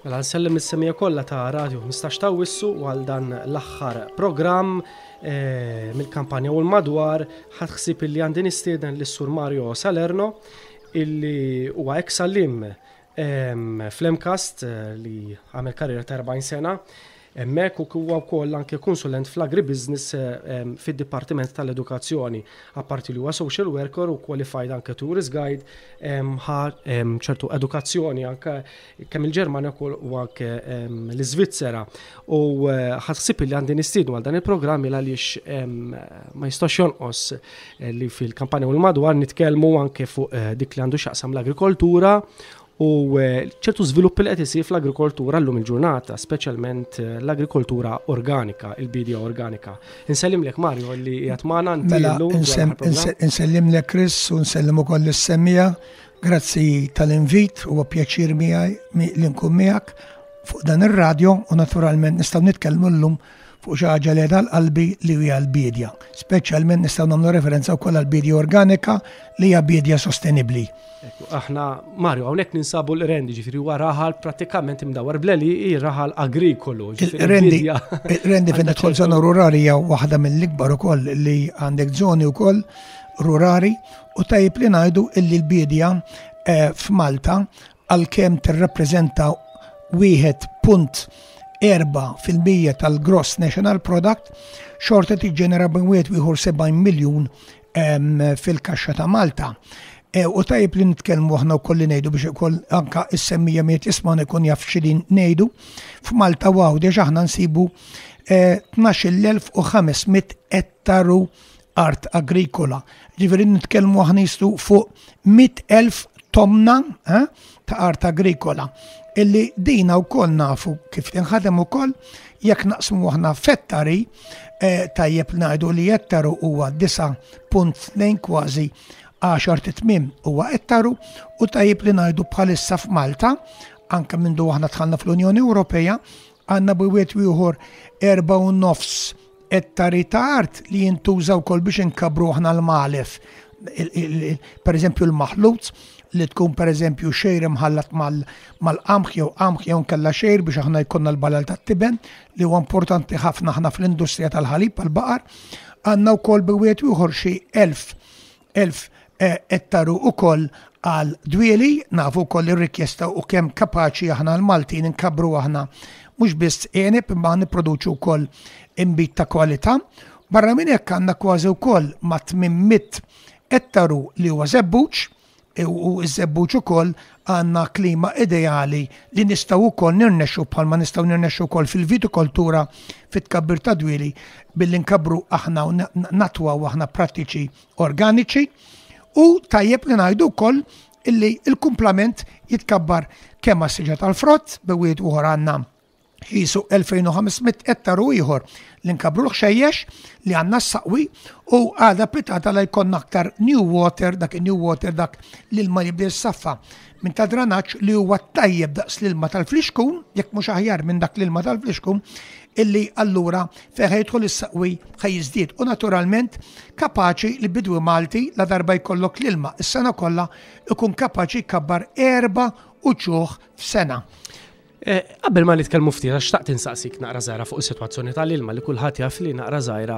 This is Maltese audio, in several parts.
Mela nsellem is-semija kollha ta' Radio 15 ta' Wissu għal dan l-aħħar programm eh, mill-kampanja u l-madwar ħadd ħsib illi għandi nistieden lis sur Mario Salerno illi huwa ex salim fl-Emcast eh, li għamel karriera ta' 40 sena Hemmhekk u huwa wkoll anke kunsulent fl-agribusiness fid-Dipartiment tal-Edukazzjoni. Apparti li huwa social worker u qualified anke tourist guide, ħa ċertu edukazzjoni anke kemm il-Ġermanja u anke l-Iżvizzera. U ħassib li għandi nistiednu għal dan il-programm il għaliex ma jistax jonqos li fil-kampanja u l-madwar nitkellmu anke fuq dik li għandu x'jaqsam l-agrikoltura u ċertu żviluppi li qed isir fl-agrikoltura llum il-ġurnata, speċjalment eh, l-agrikoltura organika, il-bidja organika. Insellimlek Mario li qiegħed magħna mela, Insellimlek Chris u nsellim ukoll is-semija. Grazzi tal-invit u pjaċir miegħi li nkun miegħek fuq dan ir-radjo u naturalment nistgħu nitkellmu llum fuq xi ħaġa li qiegħda għal qalbi li hija l-biedja. Speċjalment nistgħu nagħmlu referenza wkoll għal biedja organika li hija biedja sostenibbli. Aħna Mario hawnhekk ninsabu l-rendi ġifieri huwa raħal prattikament imdawwar bleli hi raħal agrikolu. Rendi rendi fejn tidħol żona rurali hija waħda mill-ikbar ukoll li għandek żoni wkoll rurali u tajjeb li ngħidu illi l-biedja eh, f'Malta għalkemm tirrappreżenta 1.4 fil-mija tal-gross national product, xorta tiġġenera bejn wieħed ieħor 70 miljun fil-kaxxa ta' Malta. E, u tajib li nitkellmu aħna u kolli nejdu biex ukoll anka is-semmija miet isma' ikun jaf xidin nejdu. F'Malta waw deġ aħna nsibu 12,500 e, ettaru art agrikola. Ġifieri nitkellmu aħna jistu fuq 100,000 tomna eh, ta' art agrikola. Illi dina wkoll nafu kif tinħadem ukoll jekk naqsmu aħna fettari eh, tajjeb ngħidu li ettaru huwa 9.2 kważi 10 titmim huwa ettaru u tajjeb li ngħidu bħalissa f'Malta anke minn aħna tħanna fl-Unjoni Ewropea għandna bwiet wieħor 4 u nofs Qed ta' ritard li jintuża wkoll biex inkabbru aħna l-malef. Per eżempju l-maħlut li tkun per eżempju xejr imħallat mal-qamħ jew qamħ jew nkella xejr biex aħna jkollna l-balal tat-tiben li huwa importanti ħafna aħna fl-industrija tal-ħalib għal baqar Għandna wkoll bi wieħed ieħor xi elf 1000 ettaru ukoll għal dwieli, nafu wkoll ir-rikjesta u kemm kapaċi aħna l-Maltin inkabbru aħna mhux biss għeneb imma nipproduċu wkoll inbid ta' kwalità. Barra minn hekk għandna kważi wkoll ma' 800 ettaru li huwa żebbuġ u ż-żebbuġ ukoll Għandna klima ideali li nistgħu wkoll nirnexxu bħalma nistgħu nirnexxu wkoll fil-vitikoltura fit-tkabbir ta' dwieli billi nkabbru aħna u natwaw aħna prattiċi organiċi u tajjeb li ngħidu wkoll illi l-kumplament jitkabbar kemm għas-siġra tal-frott bi wieħed uħor għandna qisu 2500 ettaru ieħor li nkabru l-ħxejjex li għandna s-saqwi u għada pitata la jkollna aktar new water, dak new water dak l-ilma jibda s-saffa minn ta' dranaċ li huwa tajjeb daqs l-ilma tal-flixkun, jekk mhux aħjar minn dak l-ilma tal-flixkun, illi allura feħe jidħol is-saqwi ħajjiżdied u naturalment kapaċi li bidwi Malti la darba jkollok l-ilma is-sena kollha ikun kapaċi kabbar erba' uċuħ f'sena. Eh, qabel ma nitkellmu ftit għax taqt insaqsik naqra żgħira fuq is-sitwazzjoni tal-ilma li kulħadd jaf li naqra żgħira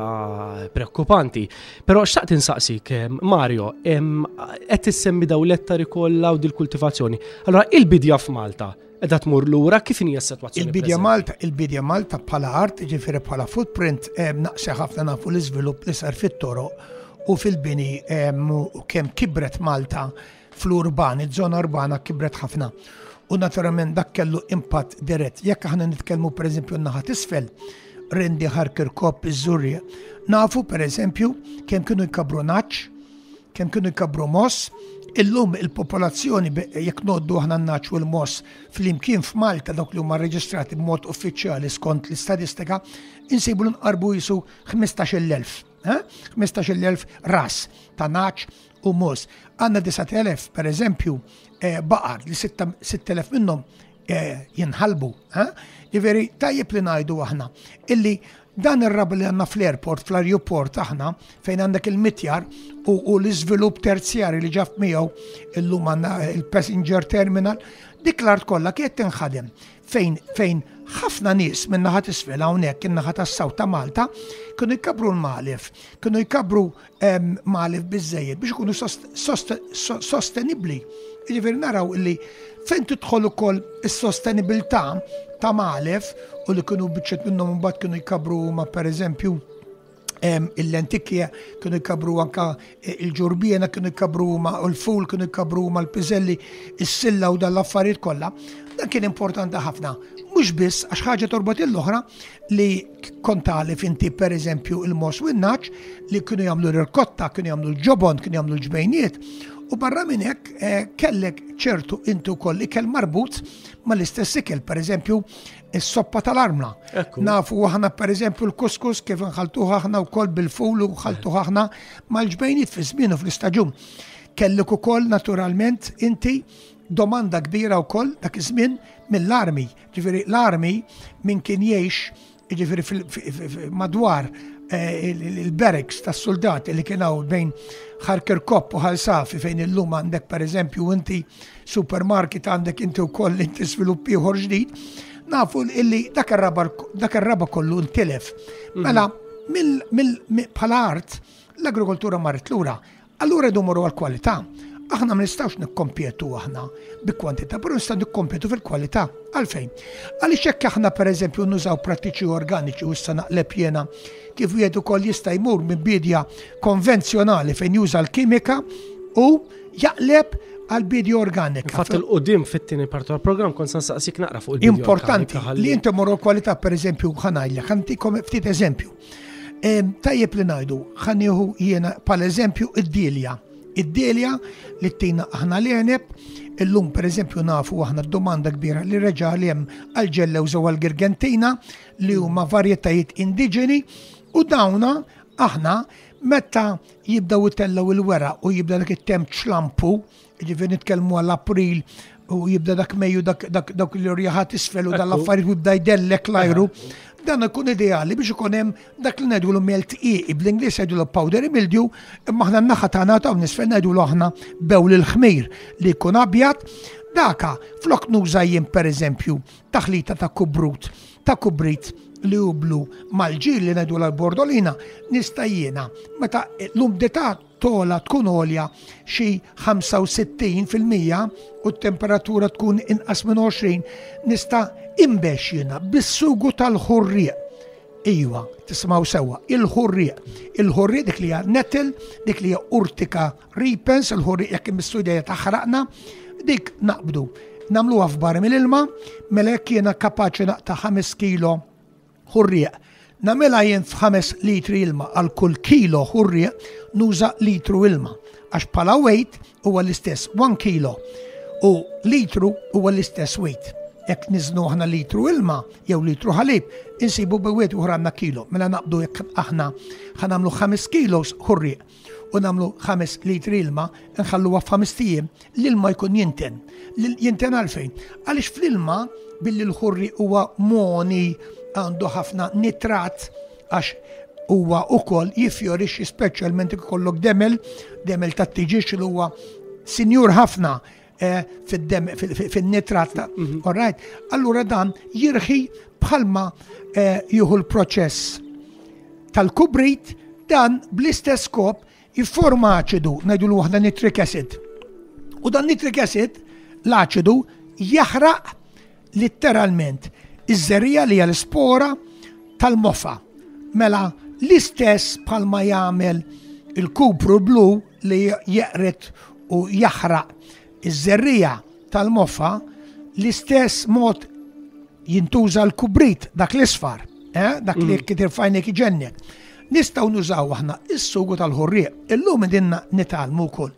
preokkupanti. Però xtaqt insaqsik eh, Mario, qed issemmi daw l-ettari kollha u dil-kultivazzjoni. Allora il-bidja f'Malta edha tmur lura kif hija s-sitwazzjoni. Il-bidja Malta, il-bidja Malta bħala art, ġifieri bħala footprint, eh, naqse ħafna nafu l-iżvilupp li sar fit-toro u fil-bini u kemm kibret Malta fl-urban, iż-żona urbana kibret ħafna. U naturalment dak kellu impatt dirett. Jekk aħna nitkellmu pereżempju n-naħa tisfel, Rendi Harker Kopp iż-Żurje, nafu pereżempju kemm kienu jkabru naċ, kemm kienu jkabru moss, illum il-popolazzjoni jekk noddu aħna naċ u l-moss fl-imkien f'Malta dawk li huma reġistrati b'mod uffiċjali skont l-istatistika, insibu l-inqarbu jisu 15,000. 15,000 ras ta' naċ u mos. Għanna 9,000, per eżempju, eh, baqar li 6,000 minnom eh, jinħalbu. Eh? Iveri, tajjeb li najdu aħna illi dan ir-rab li għanna fl-airport, fl-aeroport aħna, fejn għandek il-mitjar u l-izvilup terzjari li ġaf miegħu illum għanna il-passenger terminal, dik l-art kollha kiet tinħadem fejn fejn ħafna nies minn naħat isfel hawnhekk in-naħa tas-saw ta' Malta kienu jkabru l-malef, kienu jkabru Magħlef biżżejjed biex ikunu sostenibbli. Jiġifieri naraw illi fejn tidħol ukoll is-sostenibilità ta' magħlef u li kienu biċċet minnhom mbagħad kienu jkabru ma pereżempju il-lentikja kienu jkabru anka e, il-ġurbiena kienu jkabru ma u l-ful kienu jkabru ma l-piżelli, is-silla u dan l-affarijiet kollha. Dan kien importanti ħafna. Mhux biss għax ħaġa torbot l-oħra, li kont għalif inti per eżempju il-mos u n-naċ li kienu jagħmlu l-irkotta, kienu jagħmlu l-ġobon, kienu jagħmlu l-ġbejniet. U barra minn hekk eh, kellek ċertu inti wkoll ikel marbut mal-istess ikel, per eżempju is-soppa tal-armla. Nafu aħna per eżempju l-kuskus kif nħaltuħ aħna wkoll bil-ful u nħaltuħ aħna mal-ġbejniet fi żmien u fl-istaġun. Kellek ukoll naturalment inti domanda kbira wkoll dak iż-żmien mill-armi. Ġifieri l-armi min kien jgħix ġifieri madwar eh, il-barracks tas-suldati li kien hawn bejn Kopp u Ħalsafi fejn illum għandek pereżempju inti supermarket għandek inti wkoll inti svilupp ieħor ġdid, nafu illi dak ir-raba kollu ntilef. Mhm. Mela bħala art l-agrikoltura marret lura Allura rridu mmorru għall-kwalità. Aħna ma nistgħux nikkompjetu aħna bi kwantità, però nistgħu nikkompjetu fil-kwalità. Għalfejn? Għaliex hekk aħna pereżempju nużaw prattiċi organiċi u issa naqleb jiena kif wieħed ukoll jista' jmur minn bidja konvenzjonali fejn juża l-kimika u jaqleb għal bidja organika. Fatt il-qudim fit-tieni parti tal-programm kont se saqsik naqra fuq il-bidja. Importanti li inti morru kwalità pereżempju ħanajlek, ħantikom ftit eżempju. Tajjeb li ngħidu, ħanieħu jiena pal eżempju id-dilja. Id-dilja li tina aħna l-eneb, illum per eżempju nafu aħna d-domanda kbira li reġa li hemm għal-ġellew zew għal-girgentina li huma varjetajiet indiġeni u dawna aħna meta jibdaw itellaw il-wera u jibda dak it-temp ċlampu Ġifieri nitkellmu għal April u jibda dak Mejju dak li rjaħat isfel u dal-affarijiet u jibda jdellek l-ajru. Dan ikun ideali biex ikun hemm dak li ngħidu l melt iqi bl-Ingliż jgħidu powder imildju imma aħna n-naħa tagħna ta' nisfel ngħidu aħna bew l-ħmir li jkun abjad Daka, flok nuża jien per eżempju, taħlita ta' kubrut, ta' kubrit li jublu mal-ġil li nedu l-bordolina, nista' jiena, meta l-umdità togħla tkun għolja xi 65 fil-mija u t-temperatura tkun inqas minn 20, nista' inbex jiena bis-sugu tal-ħurrieq. Iwa, tismaw sewa, il-ħurrieq. Il-ħurrieq dik li hija nettle, dik li hija urtika ripens, il-ħurrieq jekk imissudja taħraqna, dik naqbdu. Namluha f'bar mill-ilma, mela jekk jiena kapaċi naqta' 5 kilo ħurrieq. Nagħmilha jien f'ħames litri ilma għal kull kilo ħurrieq nuża litru ilma għax bħala weight huwa l-istess 1 kilo u litru huwa l-istess weight. Jekk niżnu aħna litru ilma jew litru ħalib, insibu bewet uħra għandna kilo. Mela naqbdu jekk aħna ħanamlu 5 kilos ħurrieq. u nagħmlu 5 litri ilma nħalluha f'ħames ijiem l-ilma jkun jinten. Jinten għalfejn? Għaliex fl-ilma billi l-ħurri huwa moni għandu ħafna nitrat għax huwa ukoll jifjorix speċjalment ikollok demel, demel tat-tiġiex li huwa sinjur ħafna eh, fid-dem, fin-nitrat ta' mhm. alright, allura dan jirħi bħalma eh, jieħu l-proċess tal-kubrit dan bl-istess kop jifforma aċidu, najdu l waħda nitric acid. U dan nitric acid, l-aċidu, jaħraq Litteralment, iż-żerriegħa li hija l-ispora tal-mofa. Mela l-istess bħalma jagħmel il-kupru blu li jeqret u jaħraq iż-żerriegħa tal-mofa, l-istess mod jintuża l-kubrit dak l-isfar, eh, dak li mm. kitir fajnek iġennet. Nistaw nużaw aħna is-sugu tal-ħurrieq. Illum dinna nitalmu wkoll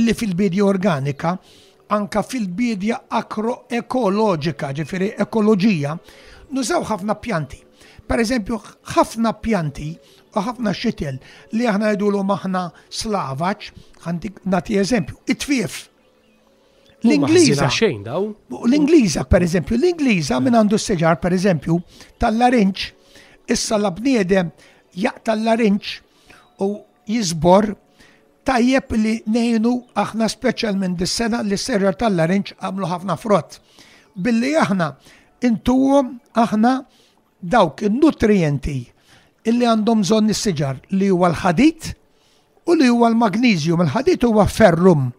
li fil-bidja organika Anke fil-biedja agroekoloġika, ġifieri ekoloġija, nużaw ħafna pjanti. Pereżempju, ħafna pjanti u ħafna xitel li aħna ngħidulhom aħna slavaġ, għandik nagħti eżempju, it-tfief. L-Ingliża xejn daw. L-Ingliża pereżempju, l-Ingliża minn għandu s-seġar pereżempju tal-larinċ, issa la bniedem jaqta' l-larinċ u jiżbor, tajjeb li ngħinu aħna speċjalment dis-sena li s-serra tal-larinġ għamlu ħafna frott. Billi aħna intuhom aħna dawk in-nutrijenti illi għandhom bżonn is-siġar li huwa l-ħadid u li huwa l-magnesium. Il-ħadid huwa ferrum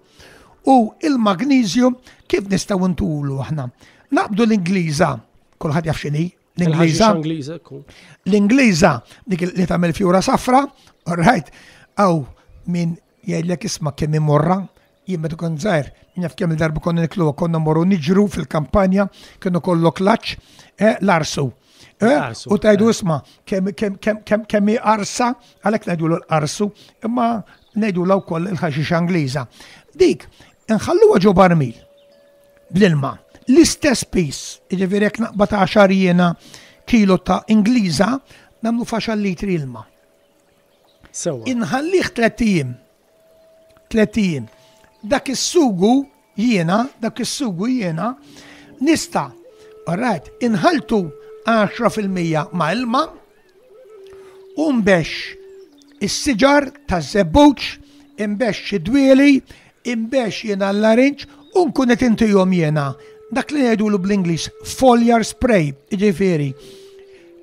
u il-magnesium kif nistgħu ntulu aħna. Naqbdu l-Ingliża, kulħadd jaf x'inhi, L-Ingliża. L-Ingliża dik li tagħmel fjura safra, right, aw min jgħidlek isma' kemm imorra, jien meta kont żgħir, jaf kemm il-darba konna niklu konna morru niġru fil-kampanja, kienu kollu klaċ, eh, l-arsu. Eh, u tajdu eh. isma, kemm arsa, għalek najdu l-arsu, imma najdu l koll il-ħaxix Angliża. Dik, nħallu għagħu barmil. bl-ilma. L-istess piż, jiġifieri jekk naqbad 10 jiena kilo ta' Ingliża, nagħmlu faxal litri ilma. Sewa. Inħallih tliet ijiem. Tliet ijiem. Dak is-sugu jiena, dak is-sugu jiena, nista' Alright, inħaltu 10% ma' ilma, u nbex is-siġar taż-żebbuġ, inbex xi dwieli, inbex jiena l-larinġ u nkun qed intihom jiena dak li ngħidulu bl-Ingliż foliar spray, jiġifieri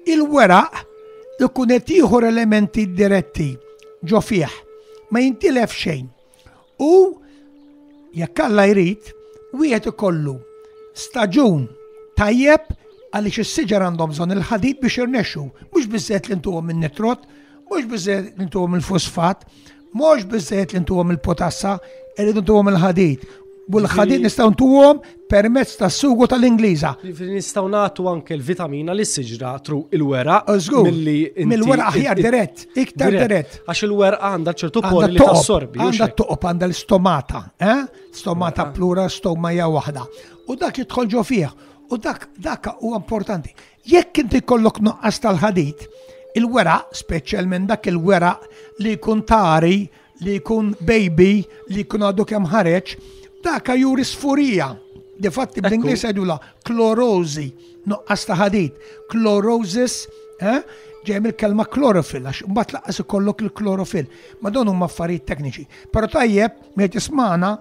il-weraq ikun qed jieħu elementi diretti ġo fih, ma jintilef xejn. U jekk Alla jrid, wieħed ikollu staġun tajjeb għaliex is-siġar għandhom bżonn il-ħadid biex irnexxu, mhux biżżejjed li ntuhom in-nitrot, mhux biżżejjed li ntuhom il-fosfat, mhux biżżejjed li ntuhom il-potassa, irridu ntuhom il-ħadid. U l-ħadid nistgħu ntuhom permezz ta' sugu tal-Ingliża. Nistaw nagħtu anke l-vitamina li s-siġra tru il-wera. Milli mill-wera aħjar dirett, iktar dirett. Għax il-wera għandha ċertu poli li tassorbi. Għandha toqob għandha l-stomata, eh? Stomata mela. plura, stoma hija waħda. U dak jidħol ġo fih. U dak dak huwa importanti. Jekk inti kollok noqqas tal-ħadid, il-wera, speċjalment dak il-wera li jkun tari li jkun baby li jkun għadu kemm ħareġ, daka juri sfurija. Difatti bl-Inglis għedula klorozi, nuqqas ta' ħadid, klorosis, eh? ġej mill-kelma klorofil, għax mbagħad laqas ikollok il-klorofil. Ma dawn huma affarijiet tekniċi. Però tajjeb, miet ismana,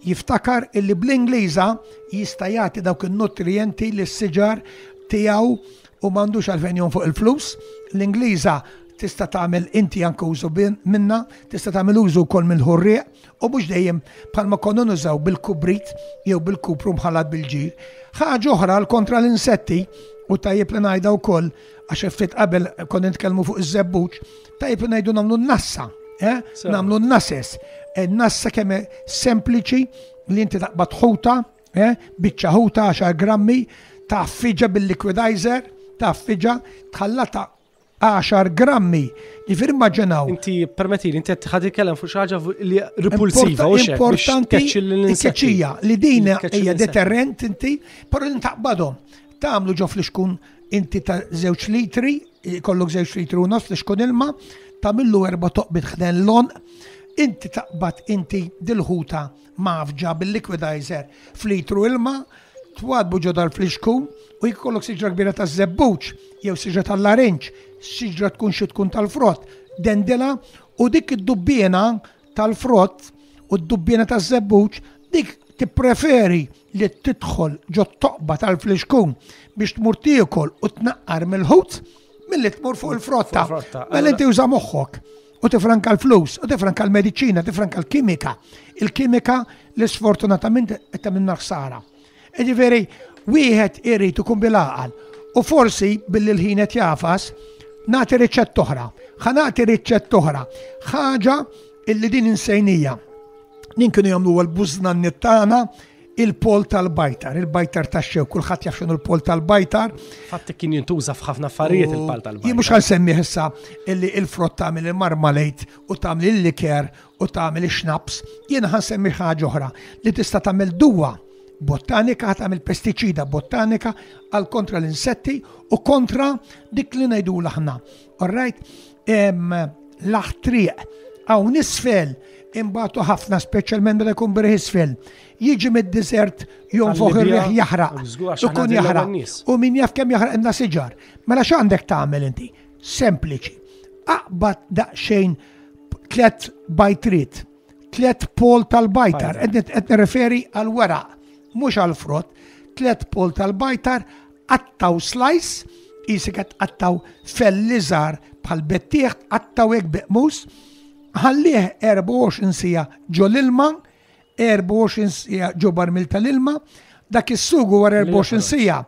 jiftakar illi bl-Ingliża jista' jagħti dawk in-nutrienti li s-siġar tiegħu u m'għandux għalfejn jom fuq il-flus. L-Ingliża tista' tagħmel inti anke użu minna, tista' tagħmel użu wkoll mill-ħurrieq u mhux dejjem bħalma konna nużaw bil-kubrit jew bil-kupru mħallat bil-ġir. Ħaġa oħra l kontra l-insetti u tajjeb li ngħidha wkoll għax ftit qabel konna nitkellmu fuq iż-żebbuġ, tajjeb li ngħidu nagħmlu n-nassa, eh? nagħmlu n-nases. Eh, nassa kemm sempliċi li inti taqbad ħuta Eh, biċċa ħuta 10 grammi ta' fiġa bil-liquidizer, ta' fiġa tħallata 10 grammi. Ġifir maġġenaw. Inti permetti li inti ħadi kellem fuq xaġa li repulsiva u Importanti l-keċija li din hija deterrent inti, però li taqbadhom. Tagħmlu ġo fl-iskun inti ta' żewġ litri, kollok żewġ litri u nofs fl-iskun ilma, tagħmillu erba' toqbit ħden lon, inti taqbad inti dil-ħuta mgħaffġa bil-liquidizer f'litru ilma, twaddbu ġo dal-flixkun u jekk ikollok siġra kbira taż-żebbuġ jew siġra tal-larinġ, siġra tkun xi tkun tal-frott, dendilha u dik id-dubbiena tal-frott u d-dubbiena taż-żebbuġ dik tippreferi li tidħol ġo t-toqba tal-flixkun biex tmur tiekol u tnaqqar mill-ħut milli tmur fuq il-frotta. Mela inti uża moħħok. u tifranka l-flus, u tifranka l-mediċina, tifranka l-kimika, il-kimika li sfortunatament qed tagħmilna ħsara. Jiġifieri wieħed irid ikun bil-għaqal u forsi billi l-ħin qed jafas nagħti riċett oħra, ħa nagħti riċett oħra, ħaġa illi din insejnija. Din kienu jagħmlu l-bużna nittana il-pol tal-bajtar, il-bajtar ta' xew, kullħat jaf xinu l-pol tal-bajtar. Fatt kien jintuża f'ħafna affarijiet il-pal tal-bajtar. Jien mhux għal semmi issa illi il-frott tagħmel il-marmalejt u tagħmel il-liker u tagħmel ix-xnaps, jien ħan semmi ħaġa oħra li tista' tagħmel duwa botanika tagħmel pestiċida botanika għal kontra l-insetti u kontra dik li ngħidu l-aħna All right, l-aħtriq hawn isfel imbagħtu ħafna speċjalment meta jkun birħ isfel. Jiġi mid-desert jom fuq ir-riħ jaħraq. Ikun jaħraq. U min jaf kemm jaħraq inna siġar. Mela x'għandek tagħmel inti? Sempliċi. Aqbad daqsxejn tlet bajtrit, tlet pol tal-bajtar, qed nirreferi għal weraq, mhux għal frott, tlet pol tal-bajtar Qattaw slice, jisek qed qattaw felli żgħar bħal bettieħ, qattaw hekk beqmus, ħallih 24 sija ġo l-ilma, 24 sija ġo barmil tal-ilma, dak is-sugu wara 24 sija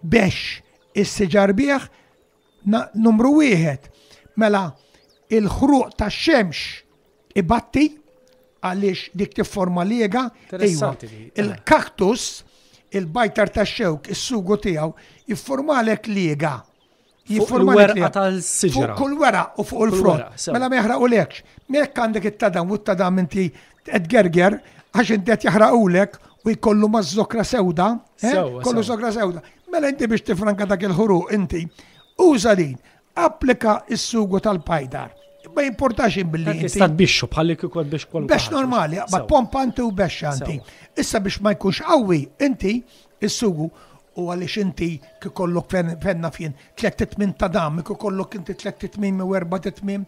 biex is-siġar bieħ Numru wieħed, mela il-ħruq tax-xemx ibatti għaliex dik tifforma liega, iva, il-kaktus, il-bajtar ta' xewk, is-sugu tiegħu, jifformalek liega. Jifformalek liega. tal-siġra. Kull wera u fuq il-frott. Mela meħra u lekx. Mek għandek it-tadam u t-tadam inti Qed gerger għax inti qed jaħraqulek u jkollu ma' zokra sewda, eh? kollu zokra sewda. Mela inti biex tifranka dak il-ħuru inti, uża din, applika is-sugu tal-pajdar. Ma jimportax billi. Tista' bixxu bħalli kikod biex kollu. Bex normali, ma pompa inti u bex anti. Issa biex ma jkunx qawwi inti is-sugu u għaliex inti kikollok fenna fien tlet titmin ta' dam, kikollok inti tlet titmin u erba titmin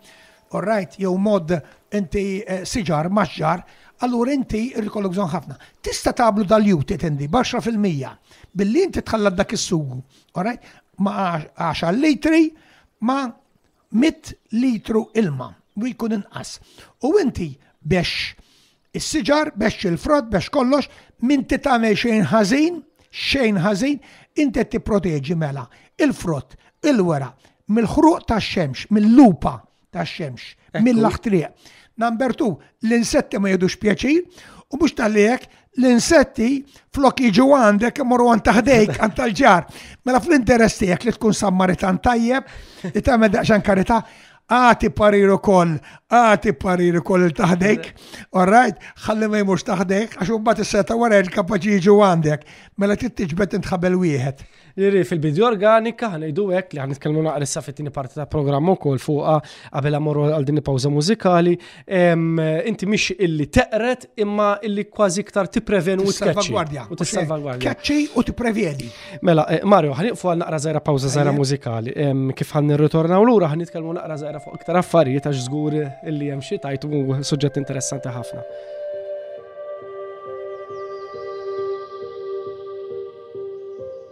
All right, jew mod inti eh, siġar, maġġar, allura inti irrikollok bżonn ħafna. Tista' tablu dal-jut itendi baxra fil-mija billi inti tħallat dak is-sugu, all right, ma' 10 litri ma' 100 litru ilma u jkun inqas. U inti biex Is-siġar bexx il-frott bexx kollox, m'inti tagħmel xejn ħażin, xejn ħażin, inti qed tipproteġi mela il-frott, il-weraq, mill-ħruq tax-xemx, mill-lupa tax-xemx, mill-aħtriq. Number two, l-insetti ma jidux pjaċir u mhux tal-li hekk l-insetti flok jiġu għandek imorru għan taħdejk għan tal-ġar. Mela fl-interess tiegħek li tkun sammaritan tajjeb, li tagħmel daqsxan karità, Għati parir ukoll, għati parir ukoll il taħdejk, alright, ħalli ma jmux taħdejk, għax un bat s-seta wara il-kapaċi jiġu għandek, mela tittiġbet intħabel wieħed. Iri fil-bidju organika ħanajdu hekk li ħan nitkellmu naqra issa fit-tieni parti ta' programm ukoll fuqha qabel amorru għal din il-pawża mużikali Inti mhix illi teqret imma illi kważi iktar tipprevenu u salvagwardja. U tissalvagwardja. Kaċċi u tipprevjeni. Mela, eh, Mario, ħaniqfu għal naqra żgħira pawża żgħira mużikali. Kif ħan nirritornaw lura ħan nitkellmu naqra żgħira fuq iktar affarijiet għax żgur illi hemm xi tajtu suġġett interessanti ħafna.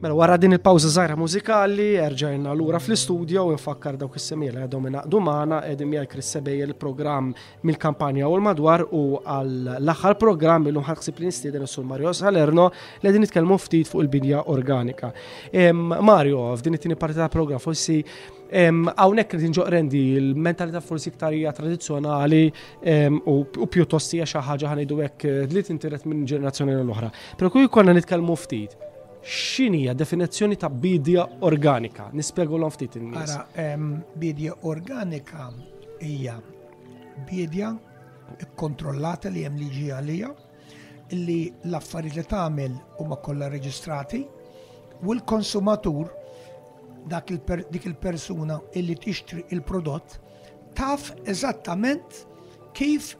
Mela wara din il-pawża żgħira mużikali, erġajna lura fl-istudio u nfakkar dawk is-semiela għadhom inaqdu magħna qegħdin miegħi Chris Sebejja il-programm mill-kampanja u l-madwar u għall-aħħar programm illum ħadsib li nistieden is-Sur Mario Salerno li qegħdin nitkellmu ftit fuq il-bidja organika. Mario, f'din it-tieni parti tal-programm forsi Hawnhekk irid inġoq rendi l-mentalità forsi iktar hija tradizzjonali u pjuttost hija xi ħaġa ħanidu hekk eh, li tintiret minn ġenerazzjoni l-oħra. Però kull konna nitkellmu ftit x'inhi hija definizzjoni ta' bidja organika? Nispjegu l ftit in-nies. bidja organika hija bidja kontrollata li hemm liġi għalija li l-affarijiet li tagħmel huma kollha reġistrati u l-konsumatur dak il dik il-persuna illi tixtri il-prodott taf eżattament kif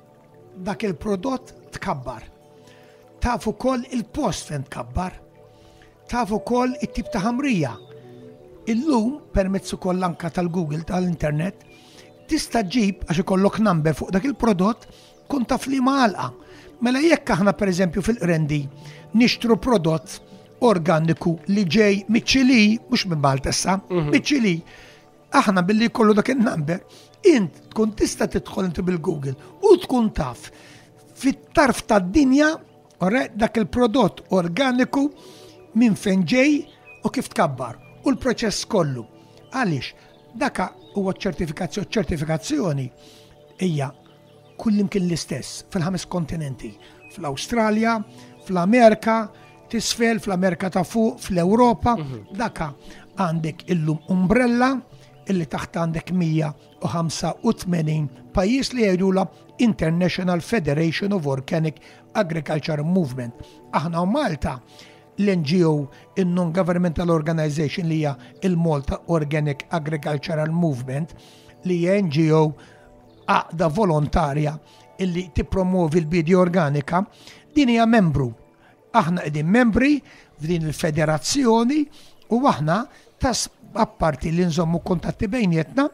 dak il-prodott tkabbar. Taf ukoll il-post fejn tkabbar. Taf ukoll it-tip ta' ħamrija. Illum permezz ukoll anka tal-Google tal-internet tista' ġib għax ikollok number fuq dak il-prodott Kun taf li ma għalqa. Mela jekk aħna pereżempju fil-Qrendi nixtru prodott organiku li ġej miċ-Ċili, mhux minn Malta issa, mhm. miċ-Ċili, aħna billi kollu dak il-number, int tkun tista' tidħol inti bil-Google u tkun taf fit-tarf tad-dinja dak il-prodott organiku minn fejn ġej u kif tkabbar u l-proċess kollu. Għaliex, daka huwa ċertifikazzjoni, ċertifikazzjoni hija Kullimkien l-istess, fil-ħames kontinenti, fl-Awstralja, fl-Amerika, tisfel, fl-Amerika ta' fuq, fl-Ewropa, mhm. daka għandek illum umbrella illi taħt għandek 185 pajjiż li jgħidula International Federation of Organic Agriculture Movement. Aħna u Malta l-NGO, il-Non-Governmental Organization li hija il-Malta Organic Agricultural Movement, li hija NGO Għaqda volontarja illi tippromovi l-bidi organika, din hija membru. Aħna qegħdin membri f'din il-federazzjoni u aħna tas apparti li nżommu kontatti bejnietna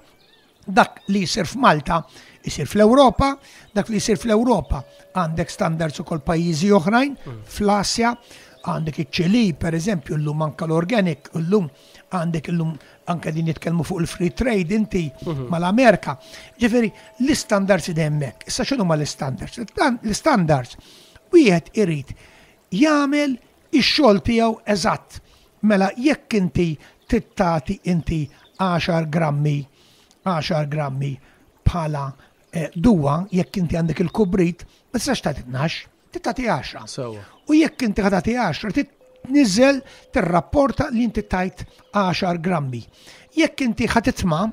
dak li jisir f'Malta jisir fl-Ewropa, dak li jisir fl-Ewropa għandek standards ukoll pajjiżi oħrajn, mm. fl-Asja, għandek iċ-ċili, per eżempju, l-lum anka l-organic, l-lum għandek illum anke din nitkellmu fuq il-free trade inti mhm. mal-Amerika. Ġifieri l-istandards id hemmhekk. Issa x'inhu ma l-istandards? L-istandards wieħed irid jagħmel ix-xogħol tiegħu eżatt. Mela jekk inti tittati inti 10 grammi 10 grammi bħala eh, duwa jekk inti għandek il-kubrit, ma tistax tagħti 12 Titati 10. Sewa. U jekk inti ħatati 10, tniżel tirrapporta li inti tajt 10 grammi. Jekk inti ħatitma,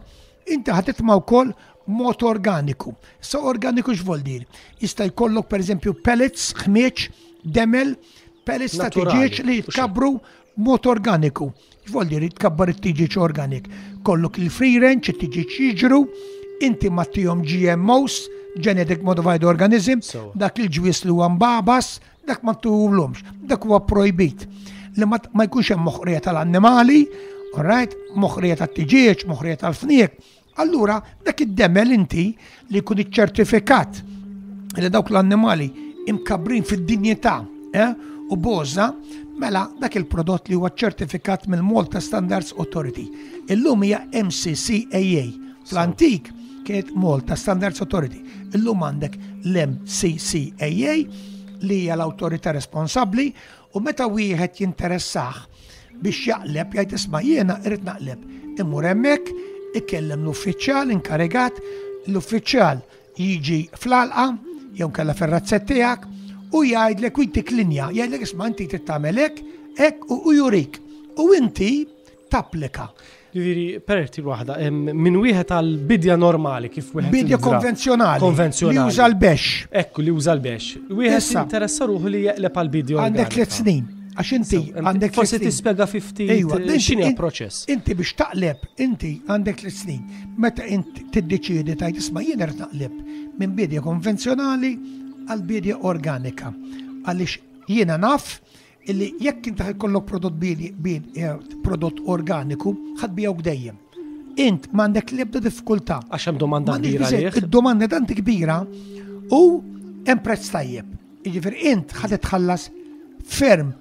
inti ħatitma wkoll mod organiku. Sa organiku x'vol dir? Jista' jkollok pereżempju pellets, ħmieġ, demel, pellets ta' tiġieġ li jitkabru Mod organiku, x'vol dir tkabbar it-tiġiġ organik. Kollok il-free range, it-tiġiġ jiġru, inti ma tihom GMOs, genetic modified organism, dak il-ġwies li huwa mbabas, dak ma tuhulhomx, dak huwa projbit. Li ma jkunx hemm moħqrija tal-annimali, all right, moħqrija tat-tiġieġ, moħqrija tal-fniek, Allura, dak id-demel inti li jkun iċċertifikat li dawk l-annimali imkabrin fid-dinjità eh, u boża, mela dak il-prodott li huwa ċertifikat mill-Malta Standards Authority. Illum hija MCCAA. Fl-antik kienet Malta Standards Authority. Illum għandek l-MCCAA li hija l-awtorità responsabbli U meta wieħed jinteressah biex jaqleb jgħid isma' jiena irrid naqleb. Imur hemmhekk, ikellem l-uffiċjal inkarigat, l-uffiċjal jiġi fl-alqa jew kella fir-razzett tiegħek u jgħidlek u jtik linja, jgħidlek isma' inti trid tagħmel hekk, hekk u jurik. U inti tapplika. Ġifieri, perti waħda, minn wieħed għal bidja normali kif wieħed. Bidja konvenzjonali. Konvenzjonali. Li uża l-bex. Ekku, li uża l-bex. Wieħed interessa ruħu li jeqleb għal bidja. Għandek tliet snin. Għax inti għandek. Forsi tispjega fi ftit eh, x'inhi proċess. Inti biex taqleb, inti għandek tliet snin. Meta inti tiddeċiedi tajt isma' jien qed naqleb minn bidja konvenzjonali għal bidja organika. Għaliex jiena naf Illi jekk intaħ ikollok prodott bini, bin, eh, prodott organiku, ħad bijawk dejjem. Int m'għandek l-ebda diffikultà. Għax hemm domanda kbira. Id-domanda tant kbira u hemm prezz tajjeb. Jiġifieri int ħad tħallas ferm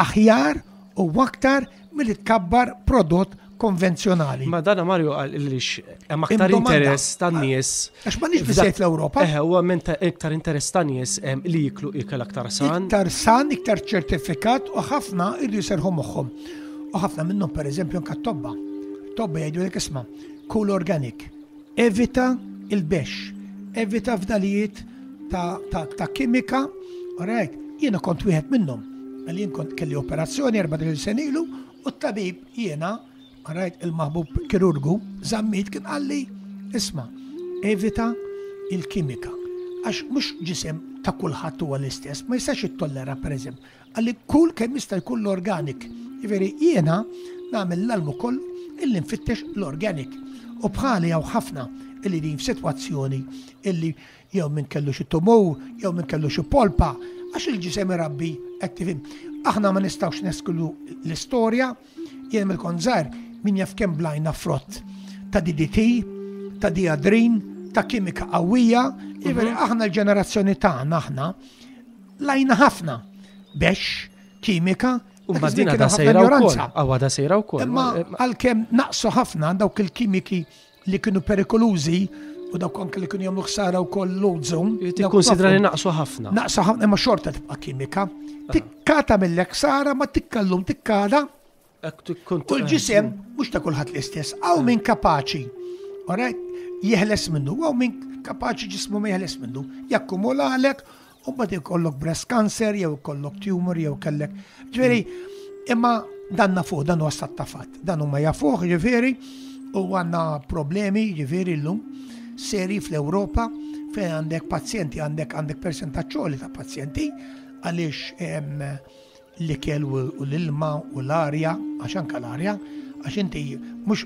aħjar u aktar milli tkabbar prodott konvenzjonali. Ma dana Mario għal il-lix, hemm aktar interess tan nies. Għax ma nix bizzejt l-Europa. Eħe, u għem iktar interess tan nies li jiklu ikel aktar san. Iktar san, iktar ċertifikat u ħafna irri jiserħu moħħom. U ħafna minnhom per eżempju anka tobba. Tobba jgħidu l isma, cool organic. Evita il-bex, evita fdalijiet ta' kimika, rajt, jiena kont wieħed minnhom, għal jien kont kelli operazzjoni erba' il senilu u t-tabib jiena, rajt il-maħbub kirurgu, zammit kien għalli, isma, evita il-kimika. Għax mhux ġisem ta' kulħadd huwa l-istess, ma jistax ittollera pereżempju Qal li kull kemm jista' jkun l-organic, jiġifieri jiena nagħmel l-almu kollu illi nfittex l-organic u bħali hawn ħafna illi qegħdin f'sitwazzjoni illi jew min kellu xi tumur, jew min kellu xi polpa, għax il-ġisem irabbi qed tifhem. Aħna ma nistgħux nesklu l-istorja, jien mill-kont żgħir min jaf kemm blajna frott ta' DDT, ta' diadrin, ta' kimika qawwija, jiġifieri aħna l-ġenerazzjoni tagħna aħna Lajna ħafna bex, kimika, u mbagħad da sejra wkoll. Awa da sejra wkoll. Imma għalkemm naqsu ħafna dawk il-kimiki li kienu perikolużi u dawk anke li kienu jagħmlu ħsara wkoll l-ozon. Tikkunsidra li naqsu ħafna. Naqsu ħafna imma xorta tibqa' kimika. Tikkata mill-ek sara ma tikkallum tikkada U l-ġisem mhux ta' kulħadd l-istess, għaw min kapaċi, orajt, jeħles minnu, għaw min kapaċi ġismu ma jeħles minnu, jakkumula għalek, u bad kollok breast cancer, jew kollok tumor, jew kellek. Ġveri, imma dan nafuħ, dan u għastat tafat, dan u ma jafuħ, ġveri, u għanna problemi, ġveri l-lum, seri fl-Europa, fejn għandek pazjenti, għandek għandek percentaċċoli ta' pazjenti, għalix l-ikel u l-ilma u l-arja, għax anka l-arja, għax inti mhux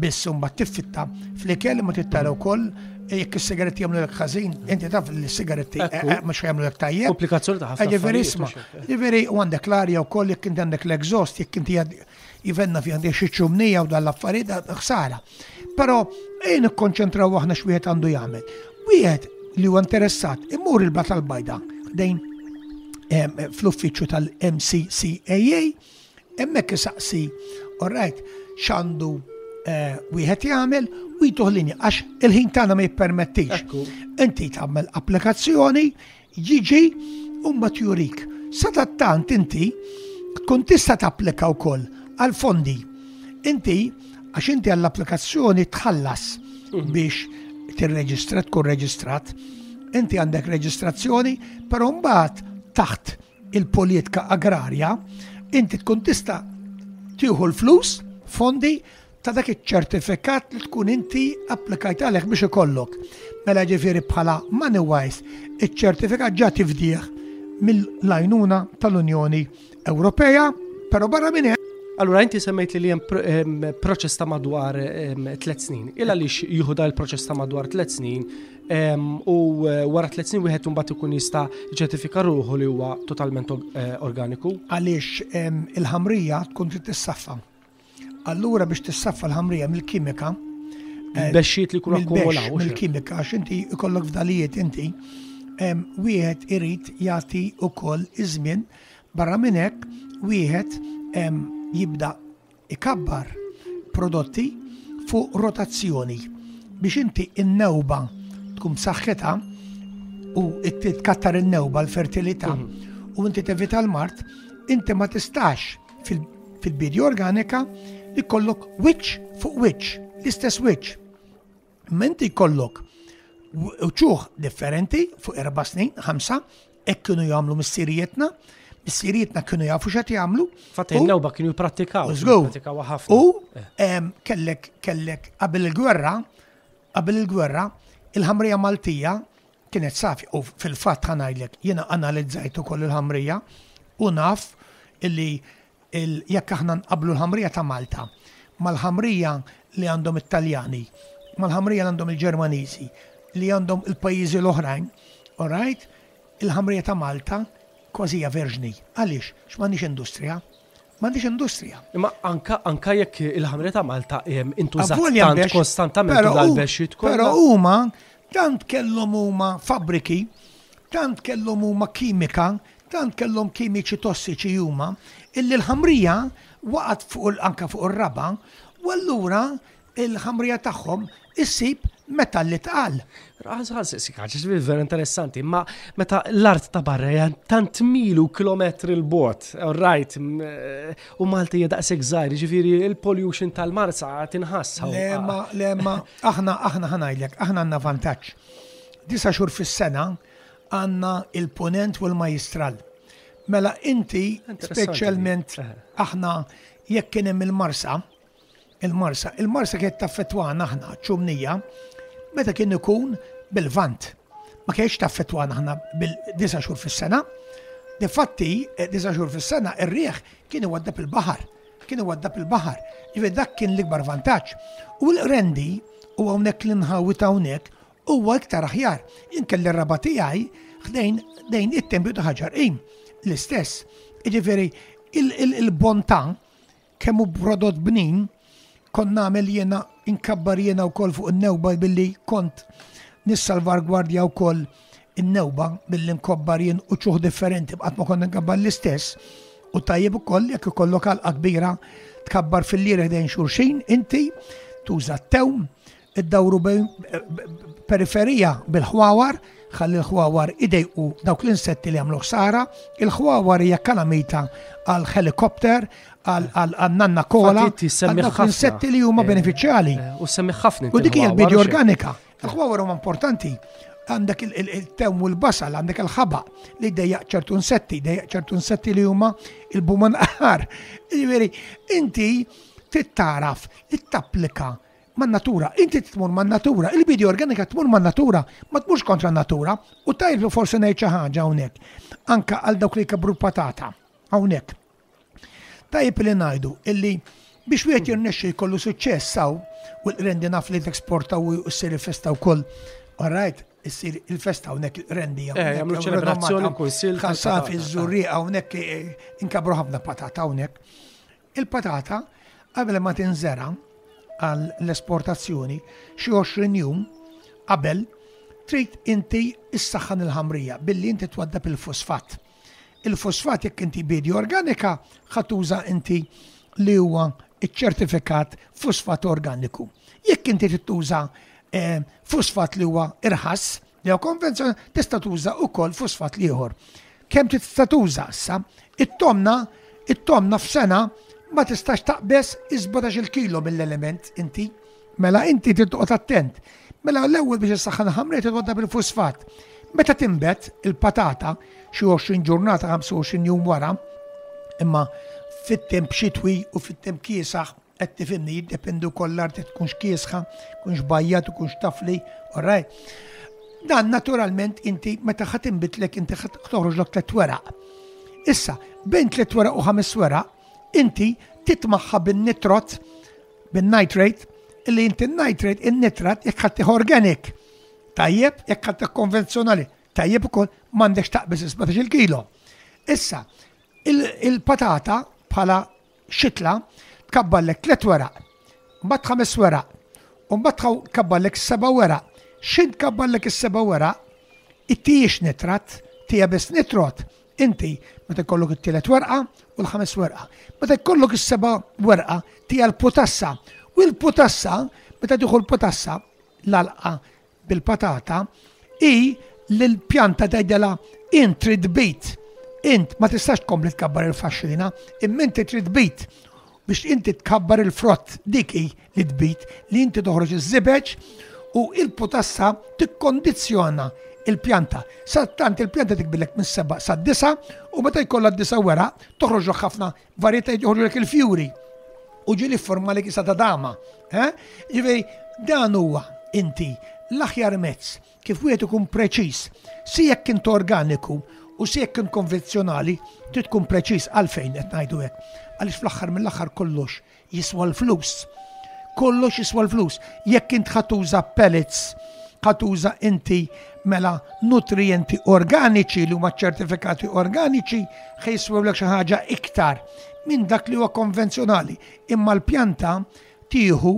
biss mbagħad tiffitta fl-ikel ma tittara wkoll jekk is-sigaretti jagħmlu lek ħażin, inti taf li s-sigaretti eh, eh, mhux jagħmlu lek tajjeb. Komplikazzjoni ta' ħafna. Ġifieri isma', ġifieri u għandek l-arja wkoll jekk inti għandek l-exhaust, jekk inti Jivenna fi għandek xi ċumnija u dan l-affarijiet ħsara. Però ejja nikkonċentraw aħna x'wieħed għandu jagħmel. Wieħed li huwa interessat imur il-bat tal-bajda dejn fl-uffiċċju tal-MCCAA hemmhekk isaqsi orajt x'għandu eh, wieħed jagħmel u jtuħ linja għax il-ħin tagħna ma jippermettix. Inti tagħmel applikazzjoni jiġi u mbagħad jurik. Sadattant inti tkun tista' tapplika wkoll għal fondi. Inti għax inti għall-applikazzjoni tħallas mhm. biex tirreġistra tkun reġistrat. Inti għandek reġistrazzjoni, però mbagħad taħt il-politika agrarja inti tkun tista' tieħu l-flus, fondi ta' dak iċ-ċertifikat li tkun inti applikajt għalih biex ikollok. Mela ġifieri bħala money wise, iċ-ċertifikat ġa tifdih mill-lajnuna tal-Unjoni Ewropea, però barra minn hemm. Allura inti semmejt li hemm proċess ta' madwar tliet snin. Il għaliex jieħu il proċess ta' madwar tliet snin u e, wara tliet snin wieħed imbagħad ikun jista' ċertifika ruħu li huwa totalment e, organiku. Għaliex il-ħamrija tkun trid tissaffa Allura biex tissaffa l-ħamrija mill-kimika. Eh, Bexxiet li kun akkumulaw. Mill-kimika, għax inti ikollok fdalijiet inti. Wieħed irid jagħti ukoll iż-żmien barra minn hekk wieħed jibda ikabbar prodotti fuq rotazzjoni biex inti in-newba tkun saħħitha u tkattar in-newba l-fertilità mhm. u inti tevita l-mart, inti ma tistax fil-bidja organika li kollok wiċċ fuq wiċċ, l-istess wiċċ. Menti kollok uċuħ differenti fuq erba snin, ħamsa, ek kienu jagħmlu missirijietna, missirijietna kienu jafu xat jagħmlu. Fatt il-lewba kienu jipprattikaw. U eh. kellek kellek qabel il-gwerra, qabel il-gwerra, il-ħamrija Maltija Kienet safja u fil-fatt ħa ngħidlek jiena analizzajt ukoll il-ħamrija u naf illi jekk aħna nqabblu l-ħamrija ta' Malta mal-ħamrija li għandhom it-Taljani, mal-ħamrija li għandhom il-Ġermaniżi, li għandhom il-pajjiżi l-oħrajn, orajt, il-ħamrija ta' Malta kważi hija verġni. Għaliex? X'm'għandniex industrija. M'għandhiex industrija. Imma anka anka jekk il-ħamrija ta' Malta hemm intużat Avvolja tant mbex, kostantament però tul hu- għall-bexxiet kollha. Però huma tant kellhom huma fabbriki, tant kellhom huma kimika, tant kellhom kimiċi tossiċi huma, illi l-ħamrija waqgħet fuq il- anke fuq ir-raba' u allura il-ħamrija tagħhom issib metall li tqal. Vera interessanti, ma meta l-art ta' barra hija tant milu kilometri l-bot, right, eh, u Malti hija daqshekk żgħir, ġifieri il-pollution tal-Marsa tinħass. Lemma, lemma, aħna aħna ħanajlek, aħna għandna vantaġġ. Disa' xhur fis-sena għandna il-punent u l-majistral. Mela inti speċjalment eh. aħna jekk kien hemm il-Marsa, Il-Marsa, il-Marsa kienet taffettwana aħna ċumnija meta kien ikun bil-vant. Ma kienx taffettwana aħna bil-disa xhur fis-sena. Difatti, eh, disa xhur fis-sena ir-riħ kien iwaddab il-baħar. Kien iwaddab il-baħar. Ġifier dak kien l-ikbar vantaġġ. U l-rendi u hawnhekk li nħawi ta' hawnhekk huwa iktar aħjar. Inkelli raba tiegħi ħdejn dejn it-tempju ta' ħaġar qim l-istess. Ġifieri il-bontà Kemm hu prodott bnin, kont nagħmel jiena inkabbar jiena wkoll fuq in-newba billi kont nissalvargwardja wkoll in-newba billi nkobbar jien uċuħ differenti qatt ma kont nkabbar l-istess. U tajjeb ukoll jekk ikollok għalqa kbira tkabbar fil-lierħ dejn xulxin, inti tuża t-tewm, iddawru periferija bil-ħwawar, ħalli l-ħwawar idejqu dawk l-insetti li għamlu ħsara, il-ħwawar hija kalamita għal helikopter, għal nanna kola, għal dawk l-insetti li huma eh, benefiċjali. Eh, u semmi ħafna. U dik hija l-bidja organika. Il-ħwawar huma importanti għandek il-tew u l-basal, għandek il-ħaba li dejja ċertu insetti, dejja ċertu insetti li huma il-buman aħar. Ġifieri, inti tittaraf li tapplika man-natura, inti tmur man-natura, il-bidi organika tmur man-natura, ma tmurx kontra n-natura, u tajb li forsi ngħid xi ħaġa hawnhekk, anka għal dawk li jkabru l-patata hawnhekk. Tajb li ngħidu illi biex wieħed jirnexxi jkollu suċċess saw u l-rendi naf li t-eksporta u s-siri festa wkoll. All right, issir il-festa hawnhekk rendi eh, jagħmlu ċelebrazzjoni kunsil. Ħassaf iż-żurri hawnhekk eh, inkabru ħafna patata hawnhekk. Il-patata qabel ma tinżera għal l-esportazzjoni xi 20 jum qabel trid inti issaħħan il-ħamrija billi inti twaddab il-fosfat. Il-fosfat jekk inti bidi organika ħatuża inti li huwa iċ-ċertifikat fosfat organiku. Jekk inti tittuża eh, fosfat li huwa irħas, Jew konvenzjoni tista' tuża wkoll fosfat l-ieħor. Kemm tista' tuża issa? It-tomna, it-tomna f'sena ma tistax taqbeż is-17 il-kilo mill-element inti. Mela inti trid toqgħod attent. Mela l-ewwel biex issaħħan ħamrija trid twaddab il-fosfat. Meta timbet il-patata xi 20 ġurnata 25 jum wara, imma fit-temp xitwi u fit-temp kiesaħ Qed tifhimni, jiddependi wkoll l-art qed tkunx kiesħa, tkunx bajjat, tkunx tafli, all right? Dan naturalment inti meta ħadd inbitlek inti ħadd toħroġlok tliet weraq. Issa, bejn tliet weraq u ħames weraq, inti titmaħħa bin-nitrot, bin-nitrate, illi inti n-nitrate, in-nitrat, jekk ħadd organic. Tajjeb, jekk ħadd konvenzjonali, tajjeb ukoll m'għandekx taqbis 17 il-kilo. Issa, il-patata bħala xitla tkabbarlek tliet weraq, mbagħad ħames weraq, u mbagħad tħaw tkabbarlek seba' weraq. X'int tkabbarlek is-seba' weraq? It hijiex nitrat, it hija biss nitrot. Inti meta jkollok it-tielet werqa u l-ħames werqa. Meta jkollok is-seba' werqa tija l-putassa. U l-putassa, meta tieħu l-putassa, l-għalqa bil-patata hi li l-pjanta tgħidilha int trid bid, int ma tistax tkompli tkabbar il-faxxina, imma inti trid bid biex inti tkabbar il-frott dik hi li tbid li inti toħroġ iż-żibeġ u il-putassa tikkondizzjona il-pjanta. Sa tant il-pjanta tikbilek minn seba sa disa u meta jkollha disa wera toħroġ ħafna Varjetà jħorrulek il-fjuri u ġili forma li kisa ta' dama. Eh? Ġifieri dan huwa inti l-aħjar mezz kif wieħed ikun preċiż si jekk int organiku u si jekk int konvenzjonali trid tkun preċiż għalfejn qed ngħidu hekk. Għaliex fl-aħħar mill-aħħar kollox Jiswa l-flus. Kollox jiswa l-flus. Jekk int ħa tuża pellets, ħa tuża inti mela nutrijenti organiċi li huma ċertifikati organiċi ħa jiswewlek xi ħaġa iktar minn dak li huwa konvenzjonali. Imma l-pjanta tieħu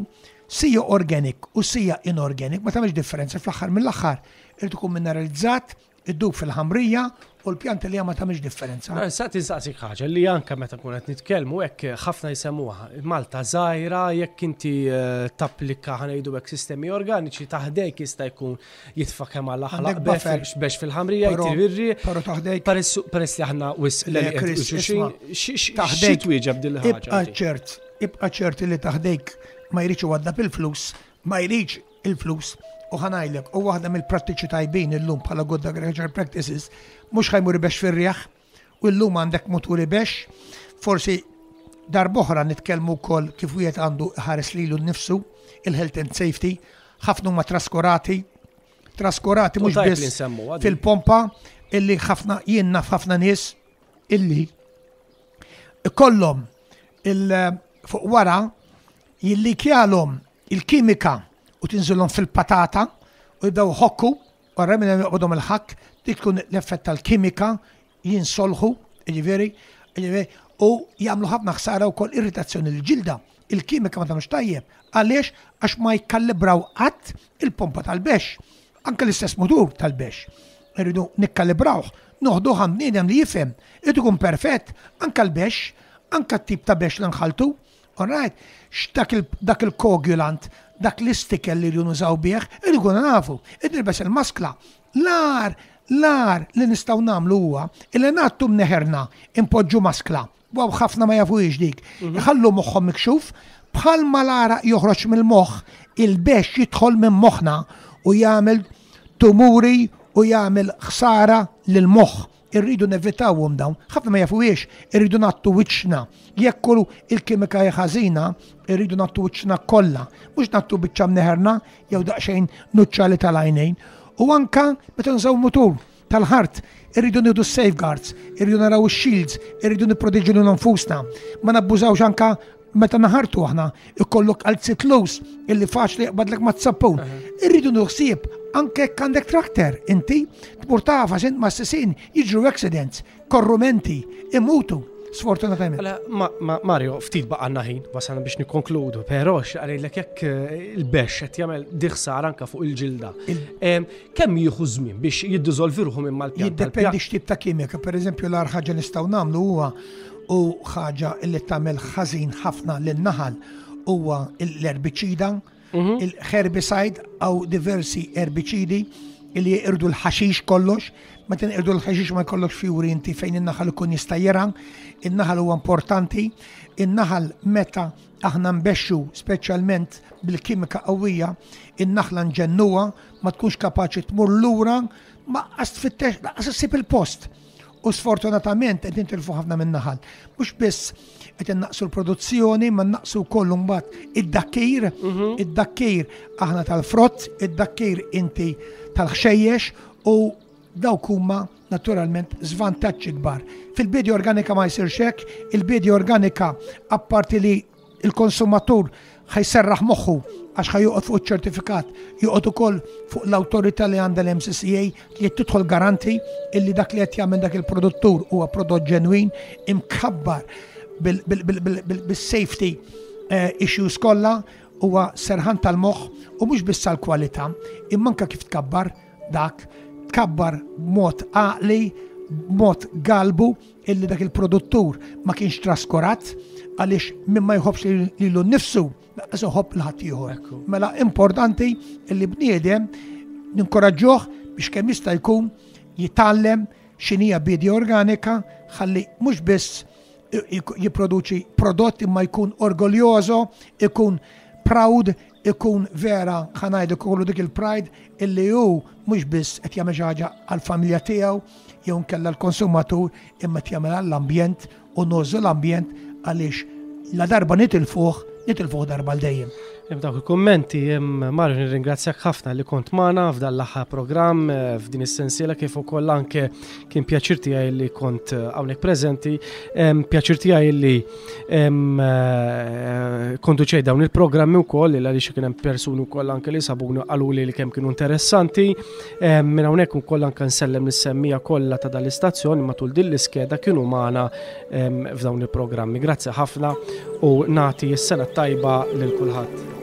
sija organic u sija inorganic ma tagħmilx differenza fl-aħħar mill-aħħar irid ikun mineralizzat, Iddub fil-ħamrija u l-pjanti li hija ma tagħmilx differenza. Eh, sa tinsaqsik ħaġa li anke meta kun qed nitkellmu hekk eh, ħafna jsemmuha Malta żgħira jekk inti eh, tapplika ħanejdu hekk sistemi organiċi taħdejk jista' jkun jitfa' kemm għal aħlaq biex fil-ħamrija jtirri. Però taħdejk peress li aħna wis taħdejk wieġeb din ħaġa. Ibqa' ċert, ibqa' ċert li taħdejk ma jridx għadda bil-flus, ma jridx il-flus u ħa ngħidlek, u waħda mill-prattiċi tajbin illum bħala good agricultural practices mhux ħa jmur ibexx fir-riħ u llum għandek mutur ibexx. Forsi darb'oħra nitkellmu wkoll kif wieħed għandu ħares lilu nnifsu, il-health and safety, ħafna huma traskurati, traskurati mhux biss fil-pompa illi ħafna jien naf ħafna nies illi kollhom il fuq wara jillikjalhom il-kimika u tinżilhom fil-patata u jibdew iħokku, wara minn hemm joqbodhom il-ħakk, dik tkun l-effett tal-kimika, jinsolħu, jiġifieri, jiġifieri, u jagħmlu ħafna ħsara wkoll irritazzjoni l-ġilda. Il-kimika ma tagħmilx tajjeb. Għaliex? Għax ma jikkalibraw qatt il-pompa tal-bexx. Anke l-istess mutur tal-bexx. Irridu nikkalibrawh, noħduh għand bniedem li jifhem, irid ikun perfett, anke l-bexx, anke t-tip ta' bexx li nħalltu, All right? Dak il-koagulant, dak l-istikel li rridu nużaw bih, irridu nkunu nafu. Id-nilbes il-maskla, l-ar, l-ar li nistgħu nagħmlu huwa li ngħattu mneħerna impoġġu maskla. Waw ħafna ma jafuhiex dik. Mhm. Iħallu moħħhom mikxuf bħal ma l-ara joħroġ mill-moħħ il-bex jidħol minn moħħna u jagħmel tumuri u jagħmel ħsara lil moħħ irridu nevitawhom dawn, ħafna ma jafuhiex, irridu nattu wiċċna. Jekk kull il-kimika ħażina, irridu nattu wiċċna kollha, mhux nattu biċċa mneħerna jew daqsxejn nuċċali tal-għajnejn. U anka meta nżaw mutur tal-ħart, irridu nieħdu safeguards, irridu naraw shields, irridu nipproteġu lil nfusna. Ma nabbużawx anka Meta naħartu aħna ikollok għal sitlus illi faċli jaqbadlek ma' t-sappun. Irridu nuħsib anke għandek trakter inti tmur tafa sint ma' s-sisin jiġru accidents, korrumenti, imutu. Sfortunatament. Mela, Mario, ftit baqanna ħin, wasana biex nikonkludu, pero xqalilek jekk eh, il-bex qed jagħmel diħsar anka fuq il-ġilda. Kemm jieħu żmien biex jiddiżolvi ruħu minn mal-pjan? Jiddependi x'tip ta' kimika, pereżempju l-ar ħaġa nistgħu nagħmlu huwa u ħaġa li tagħmel ħażin ħafna lin-naħal huwa l-erbiċida, mhm. il-herbicide għaw diversi erbiċidi li jirdu l-ħaxix kollox, ma tin irdu l-ħaxix ma jkollok fjuri inti fejn in-naħal ikun jista' jera, in-naħal huwa importanti, in-naħal meta aħna nbexxu speċjalment bil-kimika qawwija, in-naħla nġennuha ma tkunx kapaċi tmur lura ma qas tfittex laqas issib il-post. u sfortunatament qed nitilfu ħafna minn naħal. Mhux biss qed innaqsu l-produzzjoni, ma naqsu wkoll mbagħad id-dakkir, mhm. id-dakkir aħna tal-frott, id-dakkir inti tal-ħxejjex u dawk huma naturalment żvantaġġi kbar. Fil-bidja organika ma jsirx hekk, il-bidja organika apparti li il-konsumatur ħa jserraħ moħħu għax ħa joqgħod fuq iċ-ċertifikat, joqgħod ukoll fuq l-awtorità li għandha l-MCCA li tidħol garanti illi dak li qed jagħmel dak il-produttur huwa prodott ġenwin imkabbar bil-safety eh, issues kollha huwa serħan tal-moħħ u mhux biss l-kwalità, imma anke kif tkabbar dak, tkabbar mod għaqli, mod galbu illi dak il-produttur ma kienx traskorat għaliex minn ma jħobbx lilu nnifsu laqas iħobb l-ħadd ieħor. Mela importanti illi bniedem ninkoraġġuh biex kemm jista' jkun jitgħallem x'inhija bidja organika ħalli mhux biss jipproduċi prodott imma jkun orgoljożo, ikun proud ikun vera ħa ngħid ikollu dik il-pride illi hu mhux biss qed jagħmel xi ħaġa għall-familja tiegħu jew nkella l-konsumatur imma qed jagħmel għall-ambjent u nużu l-ambjent għaliex la darba nitilfuh nitilfuh darba l dejjem. Hemm dawk il-kummenti hemm marri nirringrazzjak ħafna li kont magħna f'dan l-aħħar programm eh, f'din is-sensiela kif ukoll anke Kien pjaċir tiegħi li kont eh, hawnhekk preżenti, pjaċir tiegħi li eh, konduċej dawn il-programmi wkoll li għaliex kien hemm persuni wkoll anke li sabuni qalu li kemm kienu interessanti. Minn hawnhekk ukoll anke nsellem nis-semmija kollha ta' dal-istazzjoni matul din l-iskeda kienu magħna f'dawn il-programmi. Grazzi ħafna u nagħti s-sena tajba lil kulħadd.